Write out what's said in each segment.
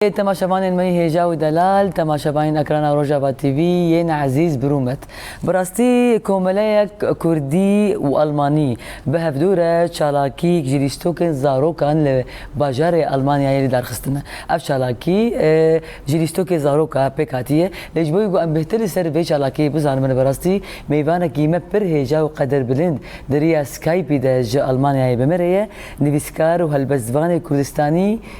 Ê temaşevanên me Hêja û Delal, temaşevanên ekrana Rojava TV yên ezîz bi rûmet. Bi rastî komeleyek kurdî û almanî bi hevdu re çalakîk ji lîstokên zarokan li bajarê Almanyayê li darxistine. Ev çalakî ji lîstokê zaroka pêk hatiye lê ji bo wî ku em bêhtir li ser vê çalakiyê bizanimin bi rastî mêvanekî me pir hêja û qederbilind di riya Skype de ji Almanyayê bi me re ye nivîskar û helbestvanê kurdistanî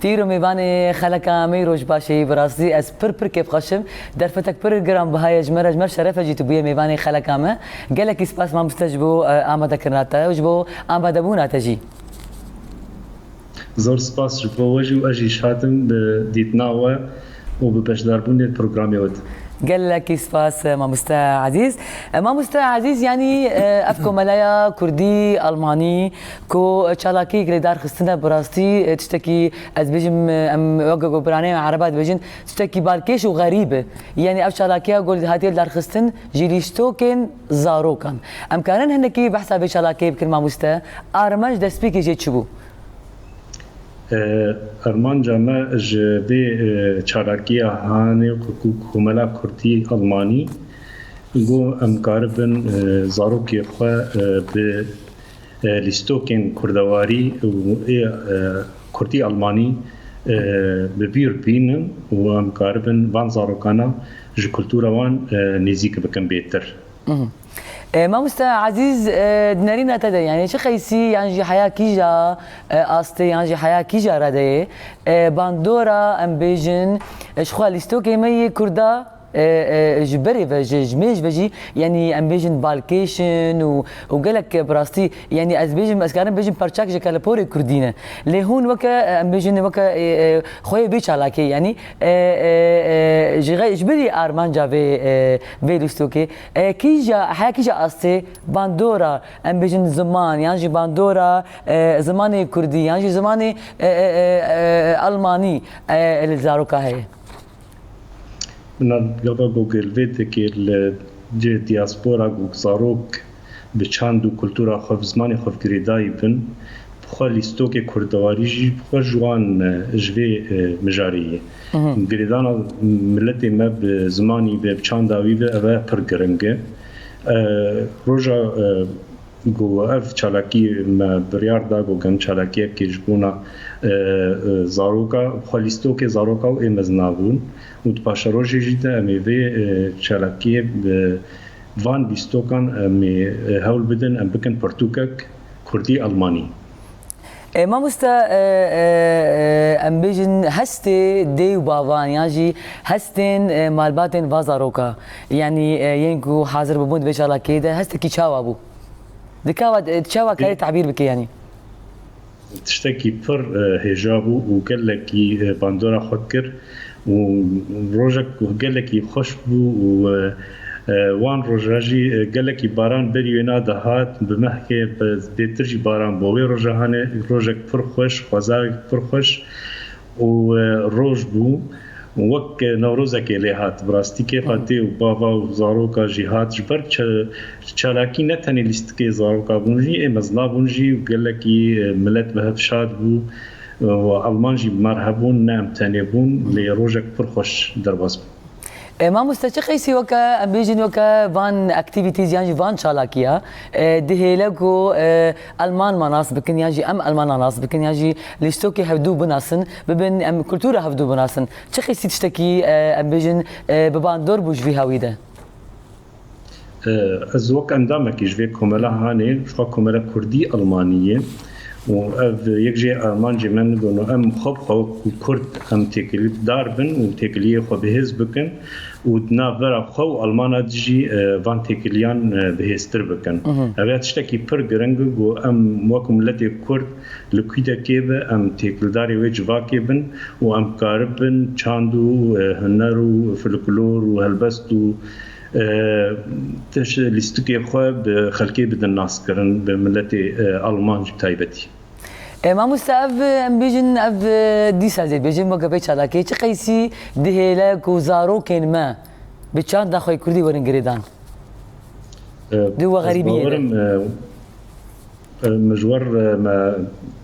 Tîr û mêvanê xeleka me roj baş ê bi rastî ez pir pir kêf xweşim derfetek pir giran biha ye ji me re ji me re şeref e jî tu bûye mêvanê xeleka me gelekî spas mamiste ji bo amade kirina te û ji bo amade bûna te jî. Zor spas ji bo we jî û ez jî şadim bi dîtina we û bi beşdarbûnê li programê we de. Gelekî spas mamoste ezîz. Mamoste ezîz yanî ev komelaya kurdî, almanî, Ku çalakiyek li dar xistin e bi rastî tiştekî ez bêjim em weke ku piranî em ereban dibêjin tiştekî balkêş û xerîb e. Yanî ev çalakiya ku hatiye li dar xistin ji lîstokên zarokan. Em karin hinekî behsa vê çalakiyê bikin mamoste? Armanc destpêkê jê çi bû? Armanca me ji vê çalakiya hanê ku komela kurdî elmanî ku em karibin zarokê xwe bi lîstokên kurdewarî û kurdî-almanî bi bîr bînin û em karibin van zarokana ji kultura wan nêzîk bikin bêtir. Mamoste Ezîz di nerîna te de yanî çi qeysî yan jî heya kîja astê yan jî heya kîja re de yê bandora em bêjin ji xwe lîstokê me yê kurda Ji berê ve ji ji mêj ve jî yanî em bêjin balkêşin û û gelek bi rastî yanî ez bêjim ez karim bêjim parçek ji keleporê kurdî ne. Lê hûn weke em bêjin weke xwe yê bê çalakê yanî ji xwe ji berî armanca vê vê lîstokê kîja heya kîja astê bandora em bêjin ziman yan jî bandora zimanê kurdî yan jî zimanê almanî li zaroka heye. Bi nav gava Gogêlvêtekê li cihê diaspora ku zarok bi çand û kultura xwe bi zimanê xwe girêdayî bin, bi xwe lîstokê kurdewarî jî bi xwe ji wan ji vê mijarê ye. Girêdana miletê me bi zimanî ve, bi çanda wî ve ev pir giring e. Roja. Ku ev çalakî me biryar da ku gem çalakiyekê ji bona zaroka xwe lîstokê zaroka û ê mezin a bûn û di paşerojê jî de em ê vê çalakiyê bi van lîstokan em ê hewl bidin em bikin pirtûkek kurdî-elmanî. E, mamosta e, e, e, em bêjin hestê dê û bavan yan jî hestên e, malbatên va zaroka yanî e, yên ku hazir bûbûn divê şala kê de hestekî çawa bû dikawa e, çawa karê tebîr bike yanî tiştekî pir e, hêja bû û gelekî e, bandora xwe kir. û rojek ku gelekî xweş bû û wan roj re jî gelekî baran berî wê na dihat bi mehkê zbêtir jî baran bû wê roja hane rojek pir xweş xwezayek pir xweş û roj bû wek newrozekê lê hat bi rastî kêfa tê û bava û zaroka jî hat ji ber çalakî ne tenê lîstikê zaroka bûn jî ê mezina bûn jî û gelekî milet bi hev şad bû. û elman jî bi me re hebûn, ne em tenê bûn, lê rojek pir xweş derbas bû. Mamoste çi qeysî weke em bêjin weke van activities yan jî van çalakiya dihêle ku elman ma nas bikin yan jî em elmanan nas bikin yan jî lîstokê hevdu binasin bibin em kultura hevdu binasin çi qeysî tiştekî em bêjin bi bandor bû ji vî hawî de? Ez wek endamekî ji vê komela hanê ji xwe komela kurdî almanî yê û ev yek jê armancê me nidono em xwe bi xwe wekû kurd em têkilîdar bin û têkiliyê xwe bihêz bikin û di navbera xwe û almana di jî van têkiliyan bihêztir bikin. Ev ya tiştekî pir giring e ku em wek miletê kurd li kûdekê be em têkildarê wê civakê bin û em karibin çand û huner û filiklor û helbest û Tişt lîstikê xwe bi xelkê bidin naskirin, bi miletê Alman jî bi taybetî. Mamoste ev em bêjin ev dîsa zêd bêjin weke pey çalakiyê çi qeysî dihêle ku zarokên me bi çanda xwe yê kurdî werin girêdan di we xerîbiyê de? Mijwer me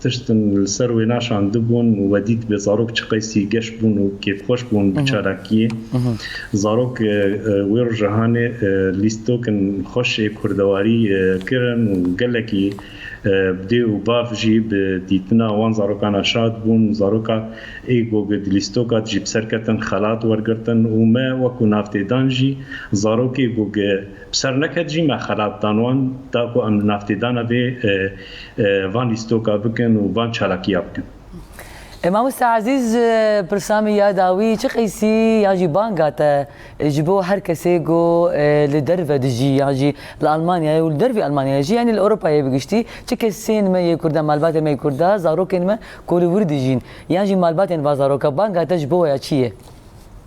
tiştin li ser wê naşandibûn û we dît bê zarok çi qeysî geş bûn û kêfxweş bûn bi çalakiyê. Zarok wê rojahanê lîstokin xweş ê kurdewarî kirin û gelekî bi dê û bav jî bi dîtina wan zarokan re şad bûn. Zaroka ê goge di lîstoka dijî bi ser ketin, xelat wergirtin û me wekû nav tê dan jî zarokê goge, Bi serleket jî me xelat dan wan, da ku em li navtêdana vê van lîstoka bikin û van çalakiya bikin. E mamoste Ezîz, pirsa me ya dawî çi qeysî yan jî banga te ji bo her kesê ku li derve dijî yan jî li Elmanyayê û li dervê Elmanyayê jî yanî li Ewropayê bi giştî çi kesên me yê Kurdan, malbatên me yê Kurdan, zarokên me ku li wir dijîn yan jî malbatên va zarokan banga te ji bo we ya çi ye?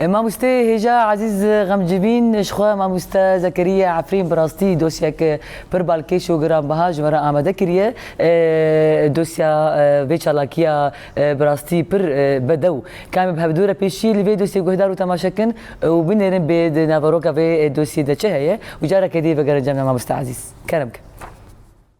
Mamoste hêja Ezîz Xemcivîn ji xwe Mamoste Zekeriya Efrîn bi rastî dosyek pir balkêş û giranbiha ji we re amade kiriye. Dosya vê çalakiya bi rastî pir bedew ke em ê bi hevdû re pêşî li vê dosyê guhdar û temaşe kin û binêrin bê di naveroka vê dosyê de çi heye û careke dî vegerin cem me Mamoste Ezîz. Kerem ke.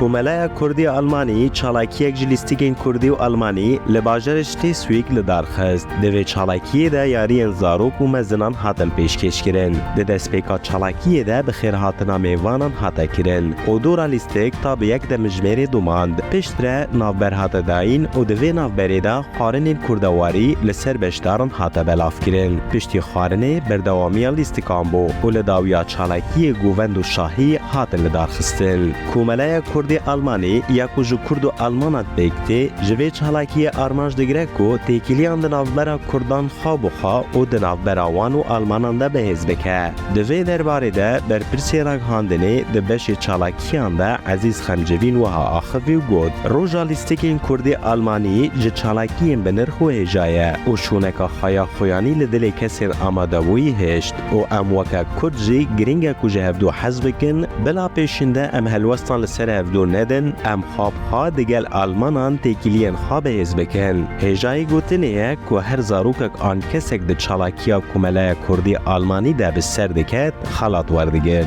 Komeleya Kurdî ya Almanyî çalakiyek ji lîstikên Kurdî û Almanî li bajarê Schleswig li dar xist. Di vê çalakiyê de yariyên zarok û mezinan hatin pêşkêşkirin. Di destpêka çalakiyê de bi xêrhatina mêvanan hate kirin û dora lîstik ta bi yek demijmêrê domand. Piştre navber hate dayîn û di vê navberê de xwarinên kurdewarî li ser beşdaran hate belavkirin. Piştî xwarinê berdewamiya lîstikan bû û li dawiya çalakiyê govend û şahî hatin lidarxistin. Komeleya Kurdê Almanî ya ku ji Kurd û Almanan pêk, Tê, ji vê çalakiyê armanc digire ku têkiliyan di navbera Kurdan xwe bi xwe û di navbera wan û Almanan de bihêz bike. Di vê derbarê de berpirsê ragihandinê di beşê çalakiyan de Ezîz Xemcevîn wiha axivî û got, Roja lîstikên Kurdê Almanî ji çalakiyên binirx wihêjaye û şûneka xwe ya xoyanî li dilê kesên amadebûyî hişt. û em weke Kurd jî girîng e ku ji hev du hez bikin, bila pêşînde em helwestan li ser hev du nedin, em xwe biha digel almanan têkiliyên xwe bihêz bikin. Hêjayî gotinê ye ku her zarokek an kesek di çalakiya komelaya Kurdî-Almanî de bi ser diket, xelat werdigir.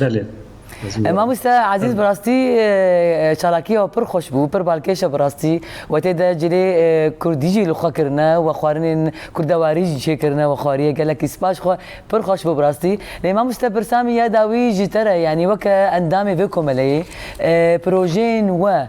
Belê. Mamoste Ezîz bi rastî çalakiya wî pir xweş bû, pir balkêş e bi rastî. Wetê de cilê kurdî jî li xwe kirine û xwarinên kurdewarî jî çêkirine û xwarîye gelekî spas xwe pir xweş bû bi rastî. Lê mamoste pirsa min ya dawî ji te re yanî weke endamê vê komeleyê projeyên we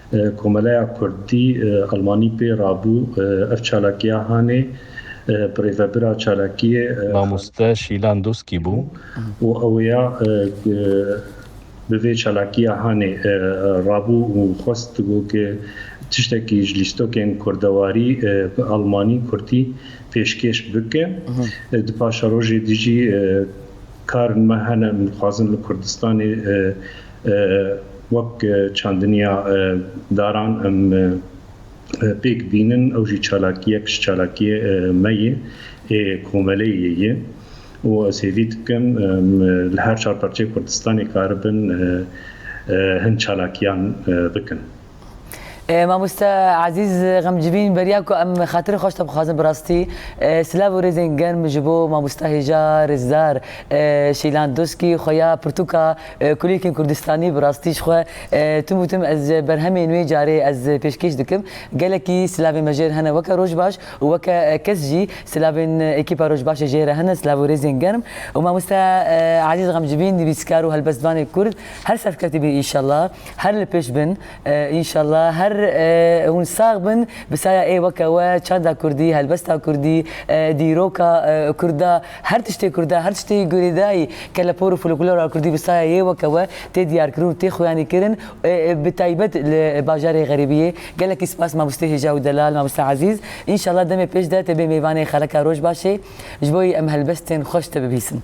Komeleya Kurdî Elmanî pê rabû ev çalakiya hanê bi rêvebira çalakiyê, Mamoste Şîlan Doskî bû. Û ew ya bi vê çalakiya hanê rabû û xwest digot ke tiştekî ji lîstokên kurdewarî, elmanî, kurdî pêşkêş bike. Di paşerojê dijî karên me hene em dixwazin li Kurdistanê, Wek çandiniya daran em pêk dînin ew jî çalakiyek ji çalakiyê me yê, ê komeleyê yê û ez hêvî dikim li her çar parçeyê Kurdistanê karibin hin çalakiyan bikin. Mamoste Ezîz Xemcivîn beriya ku em xatirê xweş te bixwazin bi rastî silav û rêzên germ ji bo mamoste hêja rêzdar Şeylan Doskî xuya pirtûka kulîlkên kurdistanî bi rastî ji xwe tim û tim ez berhemê nûê carê ez pêşkêş dikim gelekî silavên me jêr hene weke rojbaş û weke kes jî silavên ekîpa rojbaşê jê re hene silav û rêzên germ û mamoste Ezîz Xemcivîn nivîskar û helbestvanê kurd her serfketî bî înşallah. Her li pêş bin înşallah her hûn sax bin bi saya ê weke we çanda kurdî helbesta kurdî dîroka kurda her tiştê kurda her tiştê girêdayî kelepor û foloklora kurdî bi saya yê weke we tê diyarkirin û tê xuyanî kirin bi taybet li bajarê xerîbiyê gelekî spas mabostê hêja û delal mamoste ezîz înşallah demê pêş de tê bê mêvanê xereka rojbaşê ji bo em helbestên xweş te bibîsin.